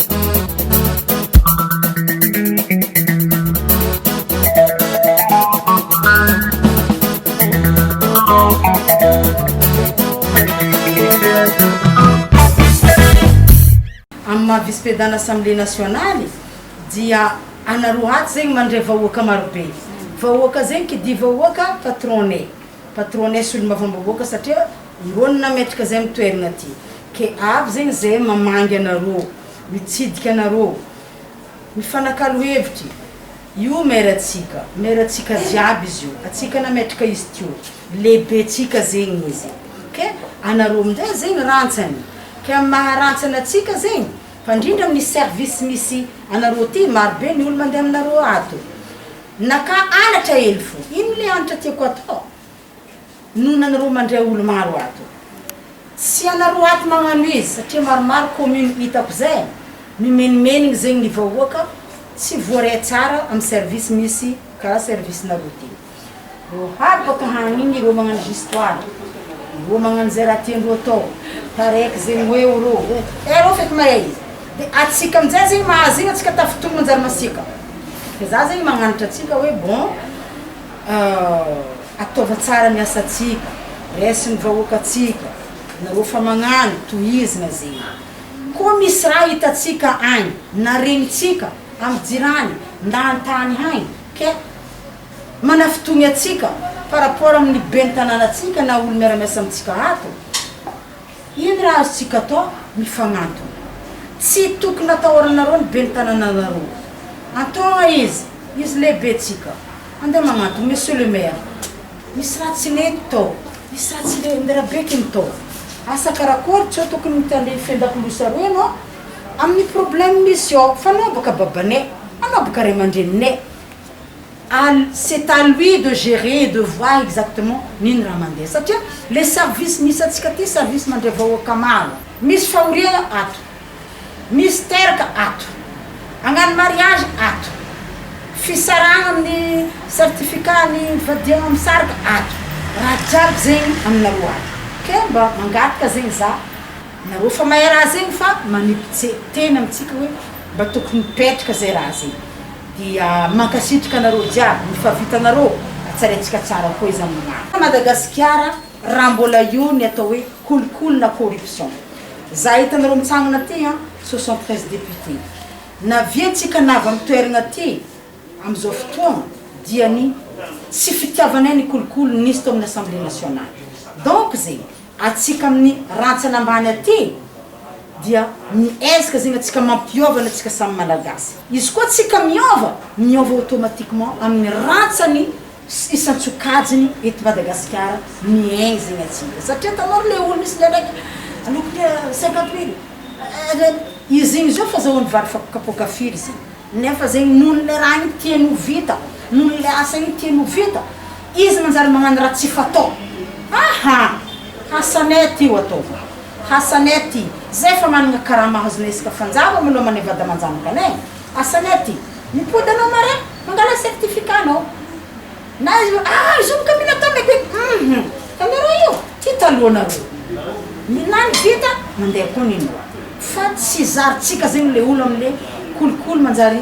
Amin'ny maha vice-president assemblée nationale dia ana roa atsy zegny mandray vahoaka marobe, vahoaka zegny qui dit vahoaka patron-nay, patron-nay solombavambahoaka satria, Irony nametraka zay am toerana ty ke avy zegny zay mamangy anarô mitsidika anarô mifanakalo hevitry io maire tsika maire tsika jiaby izy io atsika nametraka izy teo lehibe tsika zegny izy ke anarô amizay zegny rantsany ke am maha rantsany atsika zegny fa ndrindra aminy service misy anarô ty maro be ny olo mande aminarô ato naka anatra hely fô ino le anatra tiako atao Nona nareo mandray olo maro ato. Tsy ianareo ato magnano izy satria maromaro commune itako zay mimenimenigny zegny ny vahoaka tsy voare tsara am service misy kara service nareo ty. Reo hary baka hagny igny reo magnano histoire reo magnano zay raha tiandreo atao taraiky zegny hoe eo reo hoe iareo feky mahay izy de atsika amizay zegny mahazo igny atsika tafitominy manjary masiaka fa za zegny magnanatra atsika hoe bon Ataova tsara ny asantsika, raiso ny vahoakantsika, nareo fa magnano, tohizina zegny. Koa misy raha hitantsika agny, na regnintsika, amy jirany, na an-tany agny, ke manafitogny antsika par rapport amy ny ben'ny tanàna antsika na olo miara-miasa amintsika ato, Ino raha azontsika atao? Mifanantona. Tsy tokony atahoranareo ny ben'ny tanànanareo. Antoha izy, izy lehibentsika. Andeha magnantona, Monsieur le Maire, misy raha tsy nety tao, misy raha tsy le nirabeky ny tao. Asa karakôry? Tsy hoe tokony mitandreny fendan-kilosa roa ianao amin'ny problème misy ao. Fa anao bôka babanay, anao bôka ray aman-dreninay. Al, c'est à lui de gerer et de voir exactement ny ny raha mandeha satria le service misy antsika aty service mandray vahoaka maro misy fahoriana ato misy teraka ato hagnano mariage ato fisarahana amin'ny certificat ny fadiagna misaraka ato raha jiaby zegny aminareo ato ke mba mangataka zegny za nareo fa mahay raha zegny fa manipitse teny amintsika hoe mba tokony mipetraka zay raha zay. Dia mankasitraka anareo jiaby ny fa vitanareo ka tsaraintsika tsara koa izany ny maro. Madagasikara raha mbola eo ny atao hoe kolikoly na corruption za hitanareo mitsangana ty an soixante treize député na vy antsika na avy am toeragna ty amizao fotoagna dia ny tsy fitiavanay ny kolikoly nisy tao aminy assemblée nationale donc ze antsika amin'ny rantsana ambany aty dia miezaka zegny antsika mampiôvana tsika samy malagasy izy koa tsika miôva miôva automatiquement amin'ny rantsany sy isan-tsokajiny eto Madagasikara miaigny zegny antsika satria tanao ry le olo misy ndraiky lokon'ny cinquante mille eh izy igny zao fazahoany vary fapokapôka firy zegny nefa zegny noho le raha igny tiany ho vita noho le asa igny tiany ho vita Izy manjary magnano raha tsy fatao aha! Hasanette io ataovy Hasanette i zay fa managna karama azonao isaka fanjava maloha maneva damanjanaka anay e! Hasanette i mipody anao mare mangala certificat anao na izy hoe aa izy io boka mila caméra be hum caméra io ty taloha nareo ny lany vita mandeha koa ny noix fa tsy zarintsika zegny le olo amle kolikoly manjary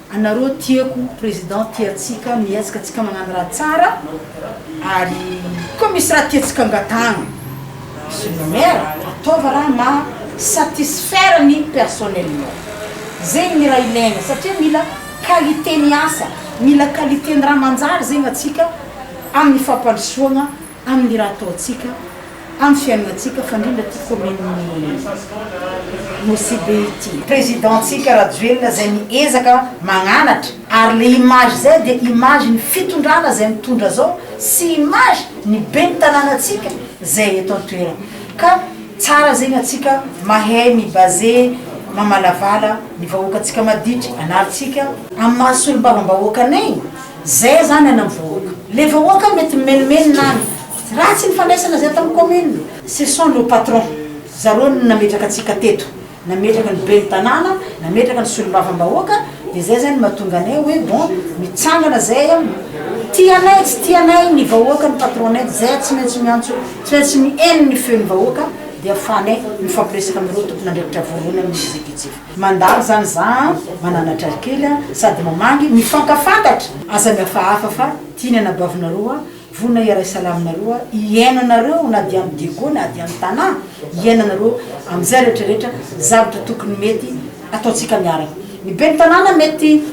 Anareo tiako president tia atsika mihetsika tsika magnano raha tsara ary koa misy raha tiatsika angatahagna monsieur le maire ataova raha maha satisfaire ny personnellement zegny ny raha ilaigna satria mila qualité ny asa mila qualité ny raha manjary zegny atsika aminy fampandrosoagna amin'ny raha ataontsika, amin'ny fiainantsika, fa indrindra ity kaominin'i Nosy-Be ity. Président-tsika Rajoelina izay miezaka magnanatra, ary le image zay dia image ny fitondrana izay mitondra zao sy image ny ben'ny tanànantsika izay eto an-toerana. Ka tsara zegny antsika mahay mi-baser, mamalavala ny vahoakantsika maditry anaritsika, amin'ny maha solombavam-bahoakanay, Zay aza any ana vahoaka. Le vahoaka mety mimenomenona any. Ratsy ny fandraisana zay tam commune. Ce sont nos patrons, zareo no nametraka antsika teto, nametraka ny ben'ny tanàna, nametraka ny solombavambahoaka, dia zay zany mahatonga anay hoe bon mitsangana zay an, tia anay tsy tia anay ny vahoaka ny patron-nay dia zay tsy maintsy miantso, tsy maintsy mihaino ny feon'ny vahoaka dia afahanay mifampiresaka amin'ireo tompon'andraikitra voalohany amin'ny executif. Mandalo zany za an! Mananatra ry kely an! Sady mamangy, mifankafantatra! Aza mihafahafa fa tia ny anabavinareo an! Vonona hiaray salama anareo an! Hihaino anareo na dia am diego na dia am tanà! Hihaino anareo am zay rehetra rehetra zavatra tokony mety ataontsika miaraka! Ny ben'ny tanàna mety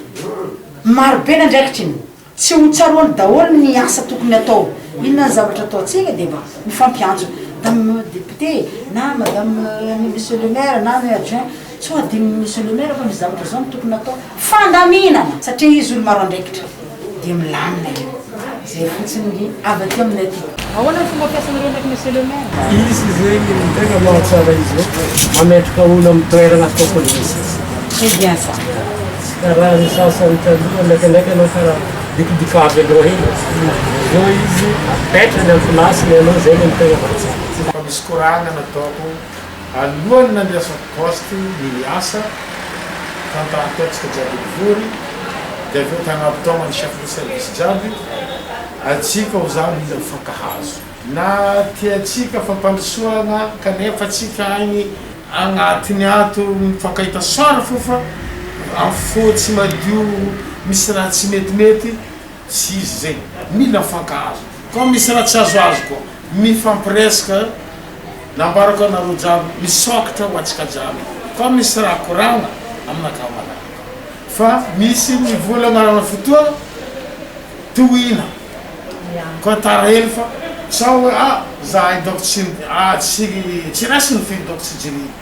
marobe ny andraikitry ny. Tsy ho tsaroany daholo ny asa tokony atao. Inona ny zavatra ataontsika dia mba mifampiantso. Madame député e, na madame ny monsieur le maire na ny adjoint, sao hadinon'i monsieur le maire fa misy zavatra zao no tokony atao. Fandaminana! Satria izy olo maro andraikitra dia milamina eo. Zay fotsiny ny avy aty aminay aty. Ahoana ny fomba fiasanareo ndraiky Monsieur le Maire? Izy zegny ny tegna mahatsara izy io, mametraka olo amin'ny toerana tokony hisy izy. C'est bien ça. Tsy karaha ny sasany taloha, ndraikandraiky anao karaha dikidikavy aloha hely, zao izy apetrany amin'ny place-ny anao zegny ny tegna mahatsara. Tsy mba misy koragna nataoko Alohan'ny nandrasan'ny Poste ny asa, tantahan-taontsika jiaby nivory, dia avy eo tanaby taona ny Chef de Service jiaby, antsika ho zany mila mifankahazo. Na tiantsika fampandrosoana kanefa tsika any agnatiny ato mifankahita soara fofa, amin'ny fo tsy madio misy raha tsy metimety, Tsy izy izay mila mifankahazo fa misy raha tsy azoazo koa. Mifampiresaka nambarako anareo jiaby misaokitra ho antsika jiaby fa misy raha koragna aminakahy malala fa misy ny vola agnarana fotoa tohina koa tara hely fa sao hoe ah zahay donc tsy ah tsy tsy raisiny finy donc tsy jirihy.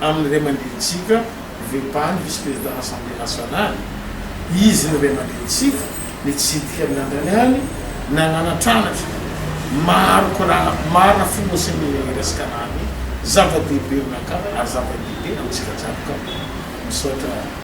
Amin'ny ray aman-drenintsika, VEPA, ny Vice Président Assemblée Nationale, izy ny ray aman-drenintsika, nitsidika ny lanjany any, nanana tranatra maro korana, marina fony hoe saingy mila hiresaka na ny zava-dehibe no nakarany ary zava-dehibe amintsika jiaby ka. Misaotra.